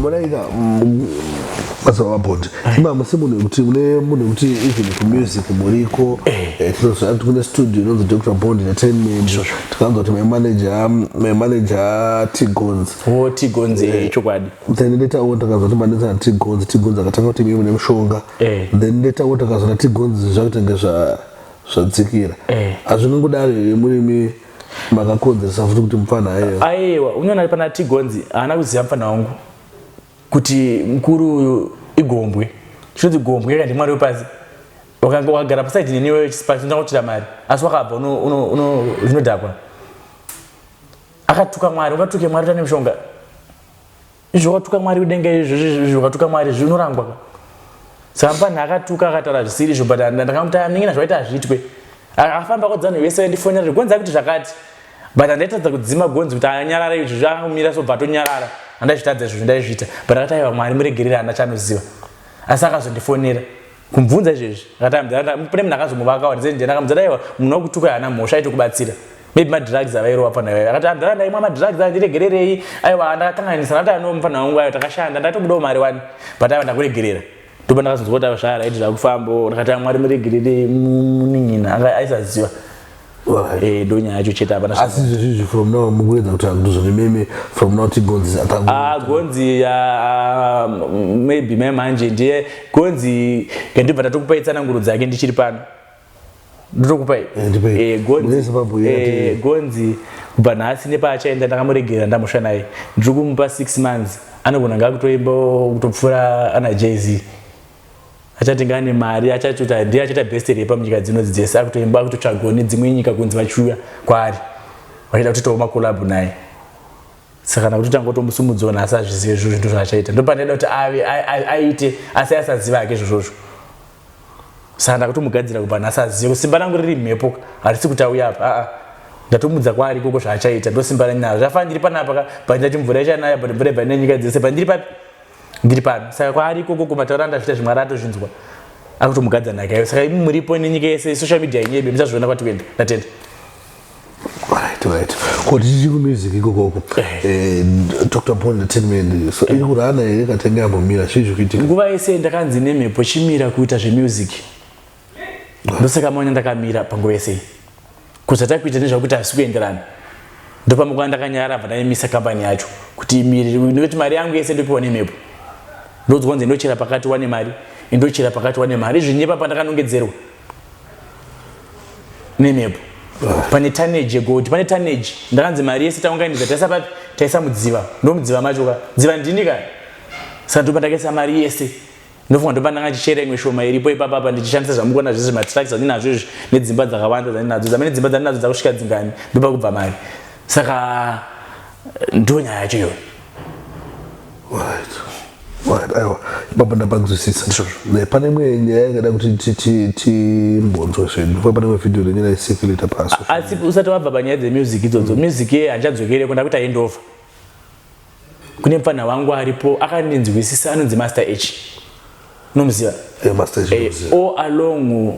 Muraika mazava mabhondi imama semunhu wekuti mune munhu wekuti even kumusic muriko eh. eh, tinoziva kuti kune studio inonzi dr bond entertainment tikanzwa kuti maimanaja maimanaja tigons o oh, tigons eh, chokwadi then later on takanzwa kuti manaja na tigons tigons akatanga kuti mimi mune mushonga then later on takanzwa na tigons zvakutenge zvadzikira hazvinongodari murimi makakonzeresa futi kuti mupfanha ayewa ayewa unyona ari pana tigonzi haana kuziva mupfanha wangu kuti mukuru uyu igombwe chinonzi gombwe yaka ndimwari wepasi wakanga wakagara pasaidi neniwe chisipasi unoda kuchira mari asi wakabva zvinodhakwa akatuka mwari ungatuke mwari tane mushonga Zvokatuka Mwari udenga izvo zvokatuka Mwari zvinorangwa ka. Saka mfanha akatuka akataura zvisiri izvo but ndakamuti amingina zvaita hazviitwe. Akafamba kodzana vese ndifonera zvigonza kuti zvakati. But andaitadza kudzima gonzi kuti anyarare izvo zvakamira so bva tonyarara. Andaizvitadza izvo zvindaizvita but akati aiwa Mwari muregerera hana chanoziva. Asi akazondifonera. kumbvunza izvezvi pane munhu akazomuvaka wandakamuza daiwa munhu wakutuka haana mhosva aiti kubatsira maybe madrugs avairova pfana iwayo akati andara ndaimwa madrugs andiregererei aiwa ndakakanganisa ndati ano mufana wangu ayo takashanda ndaitobudawo mari wani but aiwa ndakuregerera ndopa ndakazonzwa kuti zvara aiti zvakufambo ndakati amwari muregerere munin'ina aisaziva Eh, donya yacho chete hapana chimwe. asi zvezvizvi from now mukuedza kuti akutuzoni meme from now tigonzi atangu Ah, gonzi ah, mm, maybe me manje ndiye gonzi ndibva ndatokupai tsananguro dzake ndichiri pano ndotokupai Eh, ndipei. Eh, Mune gonzi Zimbabwe eh, yati- gonzi kubva nhasi nepaachaenda ndakamuregerera ndamusha naye ndiri kumupa six months anogona ngakutoimba kutopfuura ana jz achatenga ane mari achachuta ndiye achaita best repa munyika dzinodzi dzese akutoimba akutotsvagwa nedzimwe nyika kunzi vachiuya kwaari vachiita kutoitawo makolabhu naye saka kana kuti tanga kutomusumudzawo nhasi azvizive izvo zvinto zvaachaita ndopandida kuti ave aite asi asaziva hake izvozvozvo saka ndakutomugadzira kubva nhasi azive kuti simba rangu riri mhepo harisi kuti auya apa aa ndatomudza kwaari ikoko zvaachaita ndosimba ranyaro zvafanira ndiri panapa ka bhandira chimvura ichanaya but mvura ibva nenyika dzese bhandiri papi ndiri pano saka kwaari ikoko kumataura andazviita zvimwe ari atozvinzwa akutomugadza nhaka iyo saka imi muripo nenyika yese social media yenyebe muchazviona kwati kuenda ndatenda kotiti kumusiki kokoko dr paul entertainment so iri kuti ana here katenga yambomira chii zvikuitika nguva yese ndakanzi nemhepo chimira kuita zvemusic ndosaka maona ndakamira panguva yese kuti atai kuita nezvakuti havisi kuenderana ndopamuka ndakanyara bva ndaimisa kambani yacho kuti imiriri nekuti mari yangu yese ndopiwa nemhepo ndonzwa kunzi ndochera pakati wane mari indochera pakati wane mari zvinyepa pandakanongedzerwa nemhepo pane taneji yegoti pane taneji ndakanzi mari yese taunganidza taisa papi taisa mudziva ndomudziva macho ka dziva ndini ka saka ndopandakaisa mari yese Ndofunga ndopandanga ndichichera imwe shoma iripo ipapa apa ndichishandisa zvamukuona zvese matracks andinazvo izvi nedzimba dzakawanda dzandinadzo dzamene dzimba dzandinadzo dzakusvika dzingani ndopa kubva mari saka ndo nyaya yacho iyoyo aiwa baba ndapanzwisisa pane imwe nyaya ingada kuti timbonzwa zvedu fa pane imwe vhidhiyo renyaya isekileta pasi asi usati wabva panyaya dzemusic idzodzo music ye handichadzokereko ndakuita endova kune mfana wangu aripo akandinzwisisa anonzi master h unomuziva eh, o along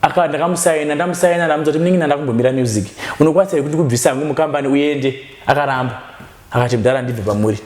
aka ndakamusaina ndamusaina ndamuza kuti mningi ndanda kumbomira music unokwanisa kuti ndikubvisa hangu mukambani uende akaramba akati mdara ndibve pamuri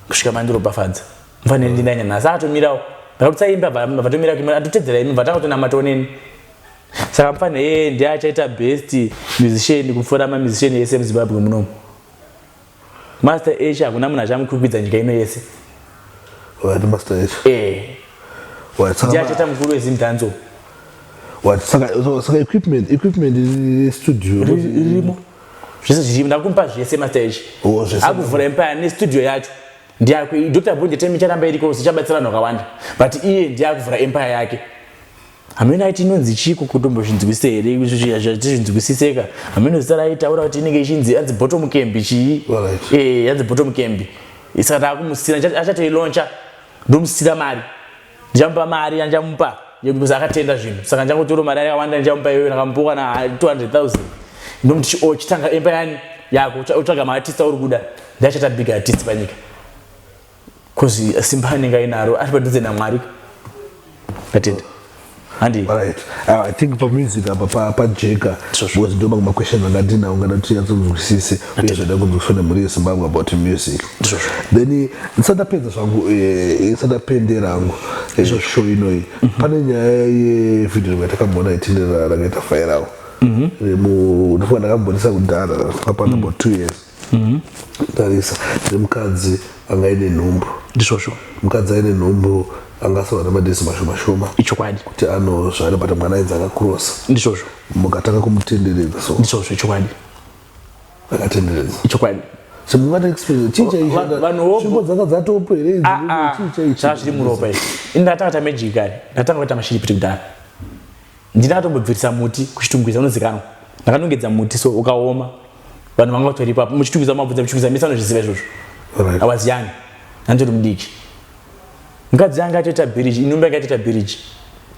kusvika mandiropafadza mfanire ndinanya nhasi atomirawo ndakutsaimba vatomira atotedzera imi vatanga kutonamatawo neni saka mfanire yeye ndiye achaita best musician kupfuura mamusician ese muzimbabwe munomu master h hakuna munhu achamukwikwidza nyika ino yese eh. ndiye achaita mukuru wezimdanzo saka equipment equipment restudio ririmo zvese zviripo ndakumupa zvese master echi oh, akuvhura empire nestudio yacho ndiyakwe dr bunje temi icharamba iriko zichabatsira vanhu vakawanda but iye ndiyakuvhura empire yake hameno aiti inonzi chiko kutombozvinzwisisa here zvichizvinzwisiseka hameno zita raitaura kuti inenge ichinzi anzi bottom cambi chii eh, anzi bottom cambi saka taakumusira achatoilauncha ndomusira mari ndichamupa mari yandichamupa because akatenda zvinhu saka ndichangotora mari yakawanda ndichamupa iyoyo ndakamupiwa na 200000 ndomuti oh, chitanga emba yani yako utsvaga maartist auri kuda ndiachata big artist panyika bcause simba anenge ainaro ari padhuze namwari katenda Handi. Alright. Uh, I think pamusic apa pa pa Jeka was ndoma kuma question anga dina ungana tiyatso kuzwisise uye zvada kunzwisana muri Zimbabwe about music. Then nsada pedza zvangu eh nsada pendera hangu eh, show inoi. Mhm. Pane nyaya ye video yatakamona itindira rakaita fire out. Mhm. Remu ndofana kambonisa kudhara papa mm. about 2 years. Mhm. tarisa nemukadzi anga aine nhumbu ndisvosvo mukadzi aine nhumbu angasova nemadhezi mashoma shoma ichokwadi kuti anozvara but mwana ainzi akakurosa ndisvosvo mukatanga kumutenderedza so ndisvosvo ichokwadi akatenderedza ichokwadi so mungati experience chii chaicho Va- vanhu vobu- tsvimbo dzanga dzatopo here idzi? Ah, ah. Chii chaicho? zvazviri muropa izvi ini ndatanga ta magic kare ndatanga kuita mashiripiti kudhara Ndini akatombobvirisa muti kuchitungwiza unozikanwa. Ndakanongedza muti so ukaoma. Vanhu vanga vatori ipapo muchitungwiza mabvunza muchitungwiza mese vanozviziva izvozvo. Right. I was young. Ndandori mudiki. Mukadzi yanga atoita biriji, inumba yanga atoita biriji.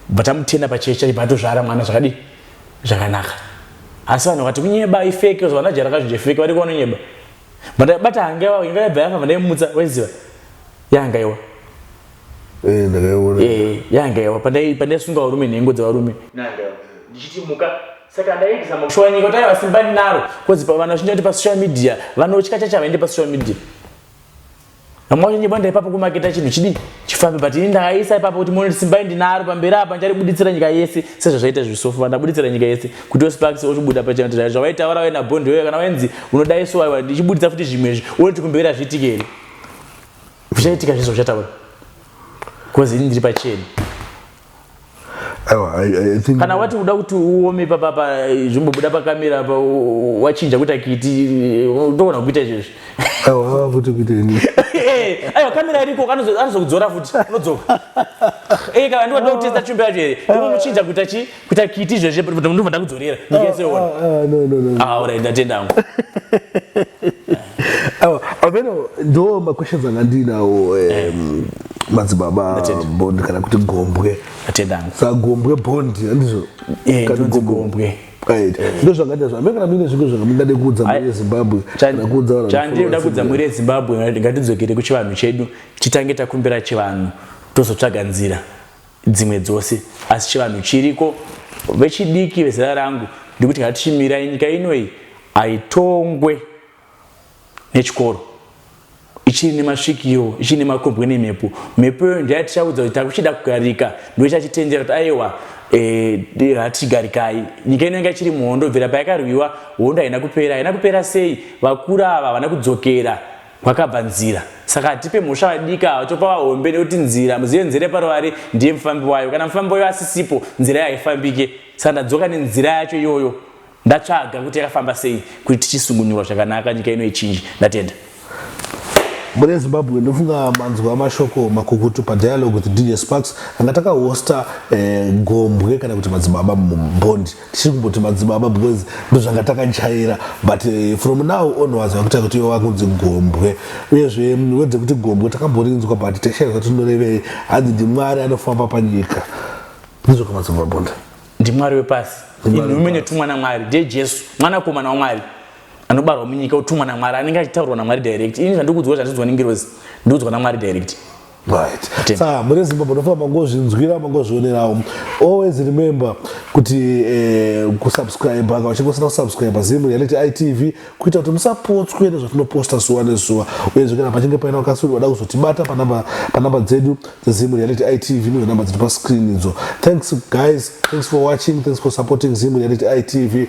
But amutena pachechi chaipa atozvara mwana zvakadi zvakanaka. Asi vanhu vakati kunyeba ifeke zvavana jara kazvinji ifeke vari kuona nyeba. But bata hangewa inga yabva yafa vandaimutsa waiziva. Yanga iwa. Eh, ndakaiona. Eh, yanga yawa pandai pandai sunga varume nhengo dzevarume. Nanga ndichiti muka saka ndaigisa makushuwa nyika taiva simba ndinaro cause pa vanhu vachinja kuti pa social media vanotya chacha vaende pa social media. Vamwe vacho nyeba ndaipapo kumaketa chinhu chidi chifambe but ini ndakaisa ipapo kuti muone simba ndinaro pamberi apa ndicharibuditsira nyika yese sezvazvaita zvisofu vandabuditsira nyika yese kuti osparks ochibuda pachena kuti zvavaitaura vaina bond wewe kana wenzi unodaiso waiwa ndichibuditsa futi zvimwe izvi uone kuti kumberi hazviitike here zvichaitika zvese uchataura bcause ini ndiri pacheni kana wati uda kuti uome papapa eh, zvimbobuda pakamera pa wachinja kuita kiti ndoona kuita izvezvi aiwa kamera iriko anozokudzora futi unodzoka eka eh, andiwatida kutesta chumbe yacho here unomuchinja kuita chii kuita kiti izvezvi but ndobva ndakudzorera nyika yese yoona Ah, ah, no, no, no. ah alright ndatenda hangu Awa, ameno ndo maquestions anga ndinawo em, madzibaba Ndatenda. bond kana kuti gombwe ndatenda hangu sa gombwe bond andizvo Eh, Kana ndonzi gombwe. gombwe. Right. ndo zvangaita zvo ameno kana muine zvinhu zvanga mungade kuudza Ai. mhuri yezimbabwe kana kuudza vanhu chandiri vanofollowers kuda kudza mhuri yezimbabwe ngatidzokere kuchivanhu chedu titange takumbira chivanhu tozotsvaga nzira dzimwe dzose asi chivanhu chiriko vechidiki vezera rangu ndikuti kana tichimirai nyika ino iyi haitongwe nechikoro ichiri nemasvikiro ichiri nemakombwe nemhepo mhepo iyo ndiya tichaudza kuti takuchida kugarika ndo ichachitendera kuti aiwa eh, hatigarikai e, nyika ino yanga ichiri muhondo bvira payakarwiwa hondo haina kupera haina kupera sei vakuru ava havana kudzokera Kwakabva nzira. Saka hatipe mhosva vadiki ava topa vahombe nekuti nzira muzive nzira yeparuvari ndiye mufambi wayo. Kana mufambi wayo asisipo nzira yayo haifambike. Saka ndadzoka nenzira yacho iyoyo ndatsvaga kuti yakafamba sei kuti tichisungunurwa zvakanaka nyika ino ichinji. Ndatenda. Mune Zimbabwe ndofunga manzwa mashoko makukutu padialogue with DJ Sparks anga takahosta eh, gombwe kana kuti madzibaba mumbondi tichiri kumboti madzibaba because ndozvanga takajaira but eh, from now onwards vakuita kuti iwe vakunzi gombwe uyezve mm, wedze kuti gombwe takamborinzwa but taishaizva tinorevei hanzi ndimwari anofamba panyika ndizvo kamadzibaba bonda ndimwari wepasi inhume netumwa namwari ndiye jesu mwanakomana wamwari anobarwa munyika utumwa namwari anenge achitaurwa namwari direct ini zvandikuudzwa zvandiudzwa nengirozi ndiudzwa namwari direct Right. Saka muri Zimbabwe nofamba mangozvinzwira mangozvionerawo. Always remember kuti eh, kusubscribe kana uchinge usina kusubscribe Zim Reality ITV kuita kuti musapotswe nezvatinoposta zuva nezuva. Uyezve kana pachinge paina wakasuri wada kuzotibata panamba panamba dzedu dzeZim Reality ITV ndidzo namba dziri pascreen idzo. Thanks guys. Thanks for watching. Thanks for supporting Zim Reality ITV.